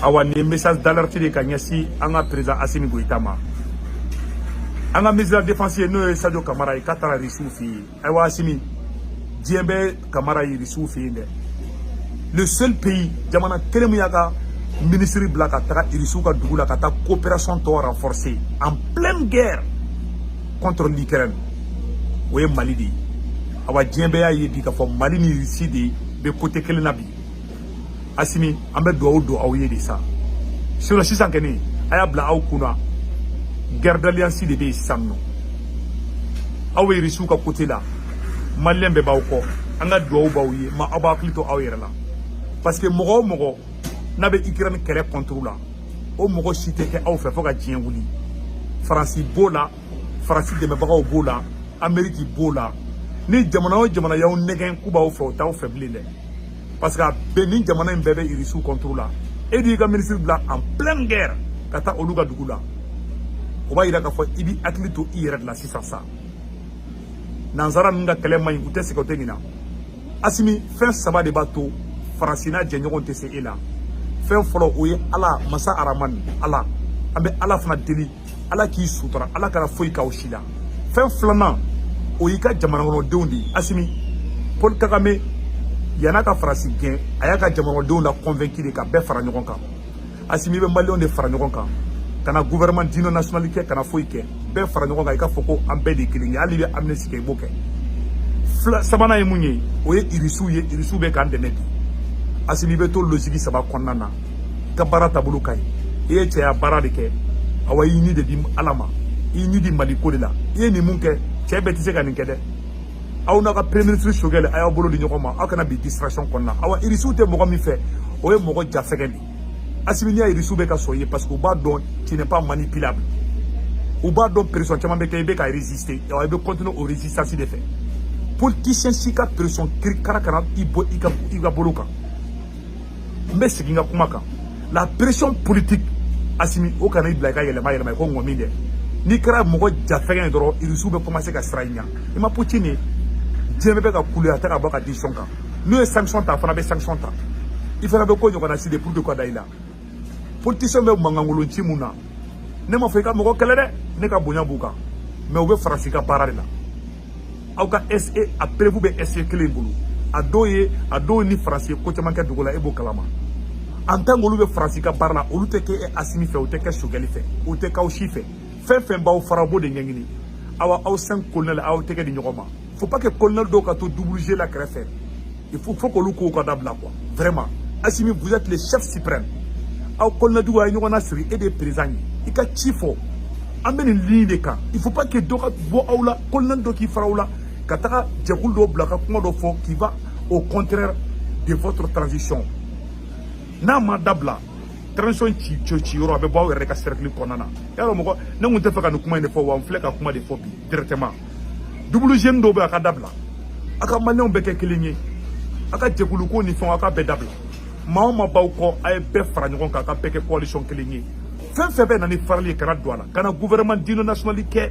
awa nin ye message d'alerte de ka ɲɛsin an ka président asimi goyita ma an ka ministre de la défense ye n'o ye sadio kamara ye k'a taara risiw fɛ yen ayiwa asimi diɲɛ bɛ kamara ye risiw fɛ yen dɛ le seul pays jamana kelen min y'a ka ministre bila ka taga irisiw ka dugu la ka taa coopération tɔ renforcer en pleine guerre contre l'Ukraine o ye mali de ye awa diɲɛ bɛɛ y'a ye bi k'a fɔ mali ni irisi de bɛ côté kelen na bi asimi an bɛ dugawu don aw ye de sa sinon sisan kɛni a y'a bila aw kunna guerre d'alliance de bɛ yen sisan nɔ aw bɛ irisiw ka côté la maliyɛn bɛɛ b'aw kɔ an ka dugawu b'aw ye mais aw b'aw hakili to aw yɛrɛ la parce que mɔgɔ o mɔgɔ n'a bɛ ikirɛni kɛlɛ contre la o mɔgɔ si tɛ kɛ aw fɛ fo ka diɲɛ wuli faransi b'o la faransi dɛmɛbagaw b'o la ameriki b'o la ni jamana o jamana y'aw nɛgɛn k'u b'aw fɛ o t'aw fɛ bilen dɛ parce que a bɛɛ nin jamana in bɛɛ bɛ irisiw contre la e dun y'i ka minisiri bila en pleine guerre ka taa olu ka dugu la o b'a yira k'a fɔ i b'i hakili to i yɛrɛ de la sisan sa nansara ninnu ka kɛlɛ man ɲi u tɛ sɛgɛn u tɛ ɲina asimi fɛn saba de b'a to faransi n'a jɛɲɔgɔn tɛ se e la fɛn fɔlɔ o ye ala masa aramani ala an bɛ ala fana deli ala k'i sutura ala kana foyi k'aw si la fɛn filanan o y'i ka jamanakɔnɔdenw de ye asimi paul kagame yan'a ka faransi gɛn a y'a ka jamanakɔnɔdenw la convaincu de ka bɛɛ fara ɲɔgɔn kan asimi i bɛ maliyɛnw de fara ɲɔgɔn kan kana gouvernement d'union nationale kɛ kana foyi kɛ bɛɛ fara ɲɔgɔn kan i k'a fɔ ko an bɛɛ de ye kelen ye hali i bɛ amnistie kɛ i b'o kɛ fɛn sabanan ye mun ye o ye irisiw ye irisiw bɛ k'an dɛmɛ bi asimi i bɛ to logique saba kɔnɔna na ka baara taabolo ka ɲi i ye cɛya baara de kɛ awa i y'i ni de di ala ma i y'i ni di mali ko de la i ye nin min kɛ cɛ bɛɛ tɛ se ka nin kɛ dɛ aw n'a ka premier ministre sogɛli a y'aw bolo di ɲɔgɔn ma aw kana bin distraction kɔnɔna awa irisiw tɛ mɔgɔ min fɛ o ye mɔgɔ jafɛgɛn de asimi n'i y'a ye irisiw bɛ ka sɔn i ye parce que u b'a dɔn tu n'est pas manipulable u b'a dɔn pression caman bɛ kɛ i bɛ ka résister awa i bɛ continuer o résistance de fɛ politicien si ka pression kirikara kana i bɔ i ka i ka bolo kan n bɛ segin n ka kuma kan la pression politique asimi o kana i bila i ka yɛlɛma yɛlɛma i ko ŋɔmi dɛ n'i kɛra mɔgɔ jafɛgɛn ye dɔrɔn irisiw bɛ commencer ka siran i ɲa i ma putin ye diɲɛ bɛɛ bɛ ka kule a tɛ ka bɔ a ka décision kan n'u ye sanction ta a fana bɛ sanction ta i fana bɛ ko ɲɔgɔnna si de pour de ka da i la politisiyɛn bɛ mankankolon ci mun na ne m'a fɔ i ka mɔgɔ kɛlɛ dɛ ne ka bonya b'u kan mais u bɛ faransi ka baara de la aw ka SE a preuve bɛ SE kelen in bolo a dɔw ye a dɔw ni faransi ye ko caman kɛ dugu la e b'o kalama en tant qu'olu bɛ faransi ka baara la olu tɛ kɛ asimi fɛ u tɛ kɛ sogɛli fɛ u tɛ k'aw si fɛ fɛn fɛn b'aw fara u b'o de ɲɛɲini awa aw cinq kolonɛli aw tɛgɛ di ɲɔgɔn ma faut pas que kolonɛli dɔw ka tɔw bila kɛrɛfɛ il faut k'olu kow ka dabila quoi vraiment asimi vous êtes le chef suprême aw kolonɛli duuru a ye ɲɔgɔn nasiri e de ye président ye i ka ci fɔ an bɛ nin ligne de kan il faut pas que dɔ ka bɔ aw la kolonɛli dɔ k'i fara aw la ka taga jɛkulu dɔ bila ka kuma dɔ fɔ qui va au contraire de votre transition n'a ma dabila transition ci yɔrɔ a bɛ bɔ aw yɛrɛ de ka cercle kɔnɔna alors moi ne tun tɛ fɛ ka nin kuma in de fɔ wa n filɛ ka kuma de fɔ bi directement double jeu in dɔw bɛ a ka dabila a ka maliyɛnw bɛɛ kɛ kelen ye a ka jɛkuluko ni fɛnw a ka bɛɛ dabila maa o maa b'aw kɔ a ye bɛɛ fara ɲɔgɔn kan a ka bɛɛ kɛ coalition kelen ye fɛn fɛn bɛ na ni farali ye kana don a la kana gouvernement d'union nationale kɛ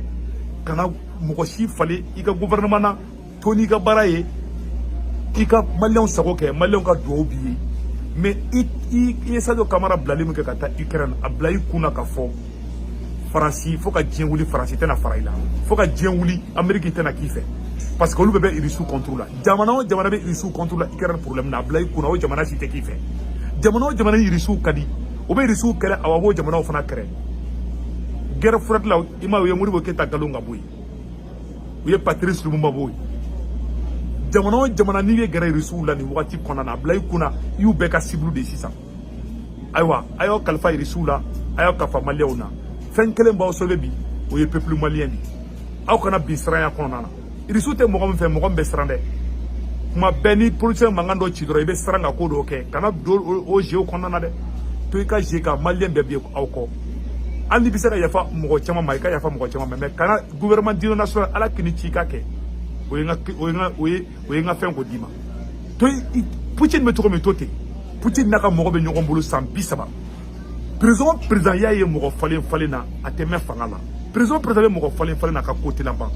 kana mɔgɔ si falen i ka gouvernement na to n'i ka baara ye i ka maliyɛnw sago kɛ maliyɛnw ka duwawu b'i ye mais i ye sadio kamara bilali min kɛ ka taa ukraine a bila i kun na ka fɔ faransi fo ka diɲɛ wuli faransi tɛna fara i la fo ka diɲɛ wuli ameriki tɛna k'i fɛ parce que olu bɛɛ bɛ irisiw kɔntoro la jamana o jamana bɛ irisiw kɔntoro la ikɛrɛn problɛmu na a bila i kunna o jamana si tɛ k'i fɛ jamana o jamana irisiw ka di o bɛ irisiw kɛlɛ awa b'o jamanaw fana kɛlɛ guerre froide la i ma u ye modibo keyita galon ka bɔ yen u ye patirisi lumumba bɔ yen jamana o jamana n'i y'i gɛrɛ irisiw la nin wagati kɔnɔna na a bila i kunna i y'u bɛɛ ka sibulu de sisan ayiwa a y'aw kalifa irisiw la a y'aw kalifa maliyɛnw na fɛn kelen b'aw sauver bi o ye pepulu maliyɛn de aw kana bin siranya kɔnɔna na irisiw tɛ mɔgɔ min fɛ mɔgɔ min bɛ siran dɛ kuma bɛɛ ni politisiyɛn mankan dɔ ci dɔrɔn i bɛ siran ka ko dɔw kɛ kana don o jeuw kɔnɔna na dɛ to i ka jeu kan maliyɛn bɛɛ bi aw kɔ hali n'i bɛ se ka yafa mɔgɔ caman ma i ka yafa mɔgɔ caman ma mais kana gouvernement d'union nationale ala k'i ni ci i ka kɛ o ye n ka o ye n ka o ye o ye n ka fɛn ko d'i ma to i putin bɛ cogo min to ten putin n'a ka mɔgɔ bɛ ɲɔgɔn bolo san bi saba président o président i y'a ye mɔgɔ falen falen na a tɛ mɛn fanga la président o président bɛ mɔgɔ falen falen na a ka ko tɛ laban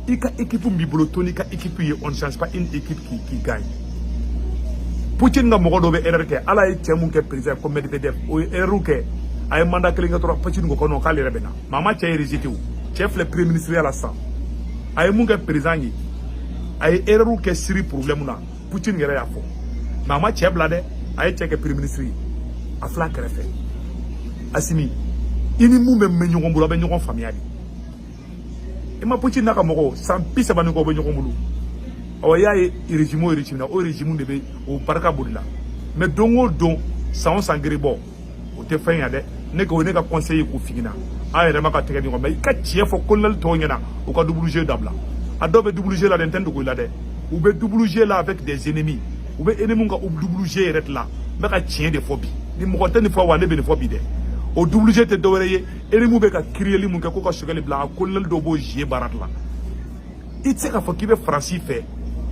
i ka ekipu min b'i bolo to n'i ka ekipu ye on change pas une équipe qui qui gagne putin ka mɔgɔ dɔ bɛ erreur kɛ hali a ye cɛ min kɛ président ko medvedev o ye erreur kɛ a ye manda kelen kɛ dɔrɔn putin ko non k'ale yɛrɛ bɛ na mais a ma cɛ in rejeter o cɛ filɛ premier ministre ya la sisan a ye min kɛ président ye a ye erreur kɛ Syrie problème na Poutine yɛrɛ y'a fɔ mais a ma cɛ bila dɛ a ye cɛ kɛ premier ministre ye a filɛ a kɛrɛfɛ asimi i ni min bɛ mɛn ɲɔgɔn bolo a bɛ ɲɔgɔn faamuya de i ma Poutine n'a ka mɔgɔw san bi saba ni kɔ bɛ ɲɔgɔn bolo ɔ i y'a ye régime o régime na o régime de bɛ o barika bolila mais don o don san o san gerebɔ o tɛ fɛn yan dɛ ne ko ne ka conseil ye k'o f'i ɲɛna an yɛrɛ ma ka tɛgɛ ɲɔgɔn ma i ka tiɲɛ fɔ kolonɛli tɔw ɲɛna u ka double jeu dabila a dɔw bɛ double jeu la dɛ n tɛ n dogo i la dɛ u bɛ double jeu la avec des ennemis u bɛ ennemis ka double jeu yɛrɛ de la n bɛ ka tiɲɛ de fɔ bi ni mɔgɔ tɛ nin fɔ wa ne bɛ nin fɔ bi dɛ o double jeu tɛ dɔwɛrɛ ye ennemis bɛ ka kiriyeli min kɛ ko ka sogɛli bila a kolonɛli dɔw b'o jeu baara de la i tɛ se k'a fɔ k'i bɛ faransi fɛ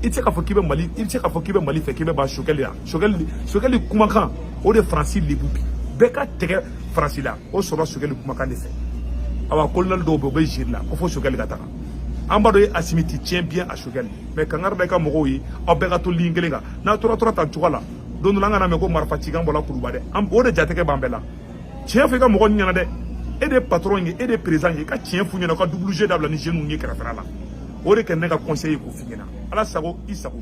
i tɛ se k'a fɔ k'i bɛ mali i tɛ se k'a fɔ k'i bɛ mali fɛ k'i bɛ ban sogɛli la sogɛli sogɛli kumakan o de faransi lebu bi bɛɛ ka tɛgɛ faransi la o sɔrɔ sogɛli kumakan de fɛ awa kolonɛli dɔw bɛ u bɛ jeu la ko fo sogɛli ka taga an b'a dɔn asimi tu tiens bien à sogɛli mais kangari da i ka mɔgɔw ye aw bɛɛ ka to ligne kelen kan n'a tora tora tan cogoya la don dɔ la an kana mɛn ko marifa cikan bɔra kuluba dɛ o de jatigɛ b'an bɛɛ la tiɲɛ fɔ i ka mɔgɔ ninnu ɲɛna dɛ e de ye patron ye e de ye président ye i ka tiɲɛ f'u ɲɛna u ka double jeu dabila ni jeunes ye kɛrɛfɛla la o de kɛ ne ka conseil ye k'o f'i ɲɛna ala sago i sago